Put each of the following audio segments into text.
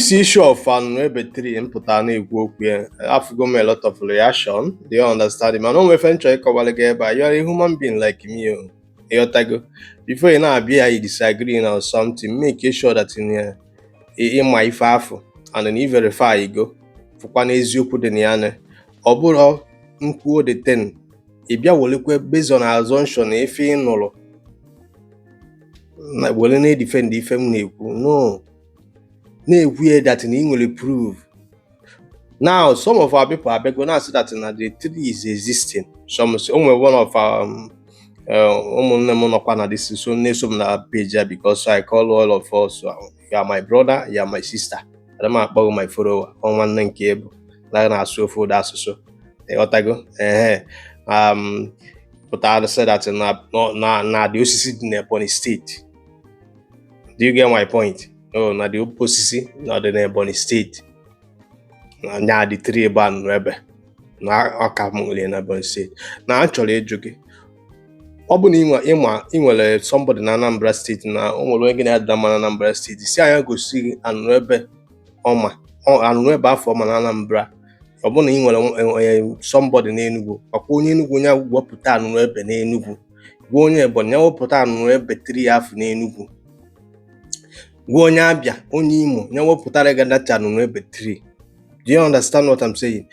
this issue of anụnụ ebe tree m pụta na-ekwu okwu ya afụgo m a lot of reaction do you understand mana o nwe ife m chọ ịkọwara gị ebe a you are a human being like me o ịghọtago before ị na-abịa ya you disagree na something make sure that na ị ma ife afụ and then you verify you go fụkwa na eziokwu dị na ya na ọ bụrọ m kwuo the thing ị bịa welekwe based on assumption na ife ị nụrụ na were na-edifend ife m na-ekwu no na-ekwu ya that na ị nwere proof now some of our people abịago na-asị that na the tree is existing some say o nwere one of our um, uh, ụmụnne m nọkwa na ndị so na-eso m na page a because I call all of us uh, you are my brother you are my sister ada m akpọ gị my follower ọ nwanne m ka ị bụ na na-asụ ofu ụdị asụsụ ịghọtago ehe um, pụtara sị that na na na the osisi dị n'Ebonyi steeti do you get my point oh, na the ope osisi na ọ dị n'ebonyi steeti na nya the tree bụ anụnụ ebe na ọka m nwere na ebonyi steeti na achọrọ m ịjụ gị ọ bụ na ịma ị nwere somebody na anambra steeti na o nwere onye gị na ya dị na mma na anambra steeti sị ya nya gosi gị anụnụ ebe ọ ma anụnụ ebe afụ ọ ma na anambra ọ bụrụ na ị nwere somebody n'enugwu gwa onye enugwu nya wepụta anụnụ ebe n'enugwu gwa onye ebonyi ya wepụta anụnụ ebe tree afụ n'enugwu gwa onye abịa onye imo ya wepụtara gị that anụnụ ebe tree do you understand what i'm saying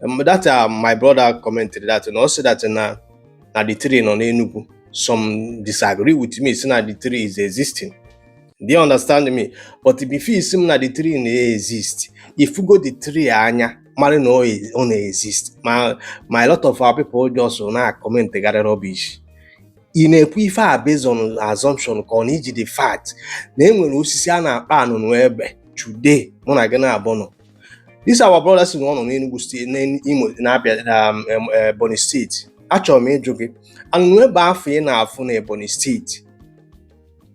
um, that uh, my brother commented that na ọ sị that na na the tree nọ n'enugwu some disagree with me sị na the tree is existing do you understand me but before ị sị m na the tree na-exist ị fụgo the tree anya mara na ọ na-exist ma ma a lot of our people just na-akọmentịgharị rubbish ị na-ekwu ife a based on assumption ka ọ na iji the fact na e nwere osisi a na-akpọ anụnụ ebe today mụ na gị na-abụ nọ this our brother sị na ọ nọ n'Enugu steeti n'Imo na Abịa um, um, Ebonyi steeti achọrọ m ịjụ gị anụnụ ebe afụ ị na-afụ na Ebonyi steeti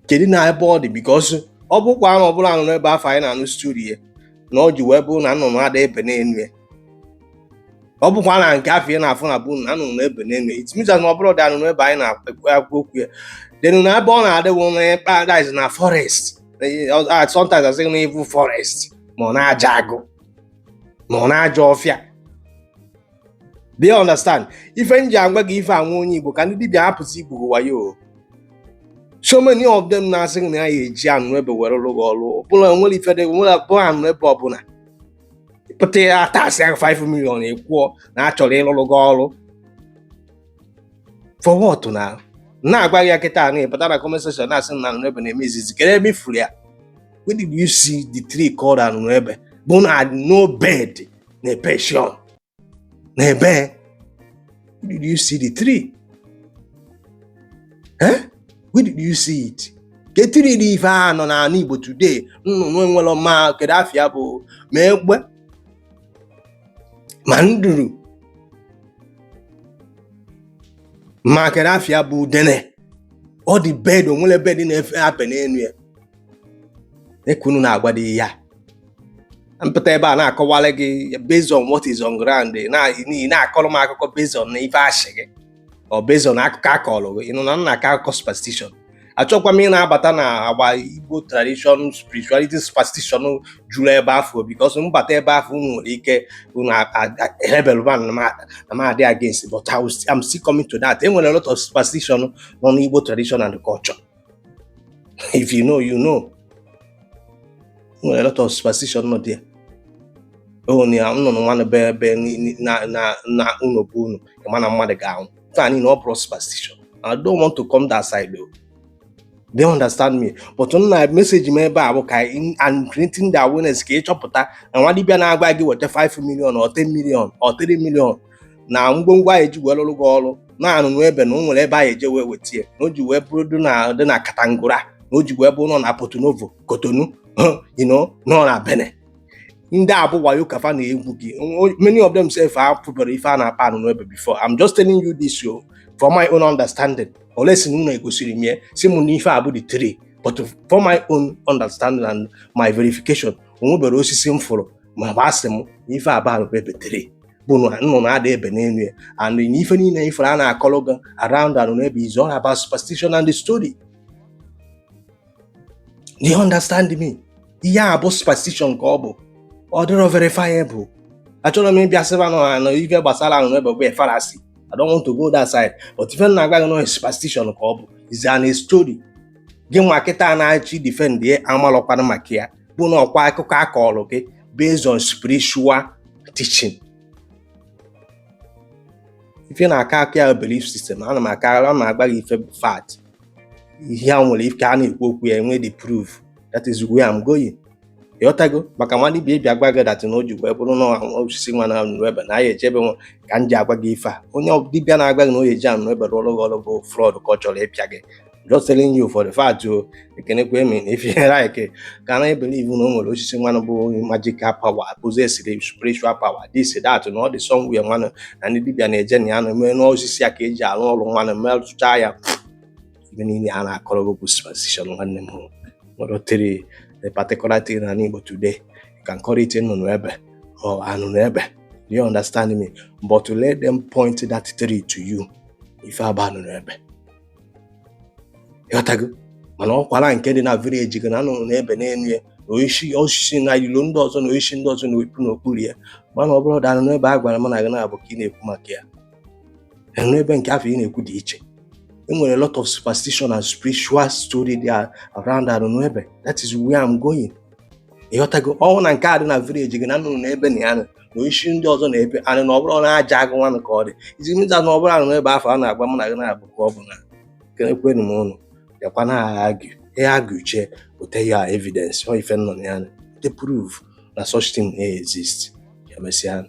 kedu na ebe ọ dị because ọ bụkwa na ọ bụrụ anụnụ ebe afụ anyị na-anụ story ya na ọ ji wee bụrụ na nnụnụ ada ebe n'enu ya ọ bụkwa na nke afụ ị na-afụ na bụ na nnụnụ na-ebe n'enu ya it means that na ọ bụrọ the anụnụ ebe anyị na-ekwu okwu ya then na ebe ọ na-adị wụ na paradise na forest sometimes a sị na evil forest ma ọ n'ajọ agụ ma ọ n'ajọ ọfịa do you understand ife m ji agwa gị ife anwa onye igbo ka ndị dibịa hapụzi igwu gị wayo so many of them na-asị gị na ya eji anụnụebe were lụọ gị ọrụ ọbụla nwere ife dị nwere abụọ anụnụebe ọbụla pụta ya atasị ya 5 million ekwuo na a chọrọ ịlụrụ gị ọrụ for what na na-agwa gị ya kịta na ịpụta na comment section na-asị na anụnụebe na-eme exist kedu ebe ị fụrụ ya when did you see the tree called anụnụebe bụ na no bird na-perch on na-ebe did you see the tree eh where did you see it ke tree dị ife a nọ n'ala Igbo today nnụnụ enwerọ ma kedu afa ya bụ ma egbe ma nduru ma kedu afa ya bụ udene ọ dị bird o nwere bird na-efe ebe n'elu ya dịka unu na-agbado ihe a m pụta ebe a na-akọwara gị based on what is on ground ị na-akọrọ m akụkọ based on ife a shị gị or based on akụkọ a kọrọ gị you know ị na-akọ akụkọ superstition achọkwa m ị na-abata na agba igbo tradition spirituality superstition juru ebe afụ because m bata ebe afụ unu nwere ike unu hebelụba na m adị against but I'm still coming to that enwere a lot of superstition nọ n'igbo tradition and culture if you know you know enwere a lot of superstition nọ there onye ya nnụnụ nwanụ be ebe na ụlọ be unu ị ma na mmadụ ga-anwụ taa niile ọ bụrụ superstition I don't want to come that side though do you understand me but nna message m ebe a bụ ka I'm creating the awareness ka ị chọpụta na nwa dibịa na-agwa gị weta 5 million or 10 million or 3 million na ngwongwo anyị ji wee lụrụ gị ọrụ na anụnụebe na o nwere ebe anyị eje wee wete ya na o ji wee bụrụ dị na dị na Kontagora na o ji wee bụrụ nọ na Porto Novo Cotonou you know nọ na Benin ndị a bụ wayo ka fa na-egwu gị many of them sef afụbarọ ife a na-akpọ anụnụebe before I'm just telling you this o for my own understanding unless na unu egosiri m ya sị m na ife a bụ the tree but for my own understanding and my verification o nweberọ osisi m fụrụ ma ọ bụ a sị m na ife a bụ anụnụebe tree bụ nnụnụ ada ebe n'elu ya and na ife niile ife a na-akọrọ gị around anụnụebe is all about superstition and the story do you understand me ihe a bụ superstition ka ọ bụ ọ dịrọ verifiable achọrọ m ịbịa sịba unu na ife gbasara anụnụebe bụ fallacy I don't want to go that side but ife na-agwa gị na superstition ka ọ bụ it's a story gị nwa kịta na-achọ defend ya amalọkwana maka ya bụ na ọkwa akụkọ a kọọrọ gị based on spiritual teaching ife na-aka aka ya belief system ana m aka ana m agba gị ife fact ihe a nwere ike a na-ekwu okwu ya enwe the proof that is where I'm going ịghọtago maka nwa dibia abịa agwa gị that na o ji wee bụrụ na osisi nwa na anụnụ ebe na ya ejebe nwa ka m ji agwa gị ife a onye dibia na-agwa gị na o ji anụnụ ebe rụọrụ gị ọrụ bụ fraud ka ọ chọrọ ịpịa gị just telling you for the fact o oh, ekenekwa m ụnụ if you like ka na-believe na o nwere osisi nwanụ bu magical power possessiri spiritual power this that na ọ dị somewhere nwanụ na ndị dibia na-eje na ya na eme n'osisi ya ka e ji arụ ọrụ nwanụ merụcha ya ife niile a na-akọrọ gị bụ superstition nwanne m nwere tree the particular thing na Igbo today you can call it nnụnụ ebe or anụnụ ebe do you understand me but let them point that tree to you ife a bụ anụnụ ebe ịghọtago mana ọkwara nke dị na village gị na anụ na-ebe n'elu ya na osisi osisi na ilo ndị ọzọ na osisi ndị ọzọ na-epu n'okpuru ya mana ọ bụrọ the anụnụ ebe a gwara m na gị naabọ ka ị na-ekwu maka ya anụnụ ebe nke afụ ị na-ekwu dị iche e nwere lot of superstition and spiritual story dị around anụnụ ebe that is where I'm going ịghọtago ọ bụ na nke a dị na village gị na anụ na-ebe na ya nọ na osisi ndị ọzọ na-epu and na ọ bụrọ n'ajọ agụ nwanụ ka ọ dị ị ji mata na ọ bụrọ anụnụ ebe afụ a na-agba mụ na gị naabọ ka ọ bụ na ekenekwenu m ụnụ bịakwa na-argue ị arguechaa put your evidence or ife nọ na ya the proof that such thing exists. Ka emesịanụ.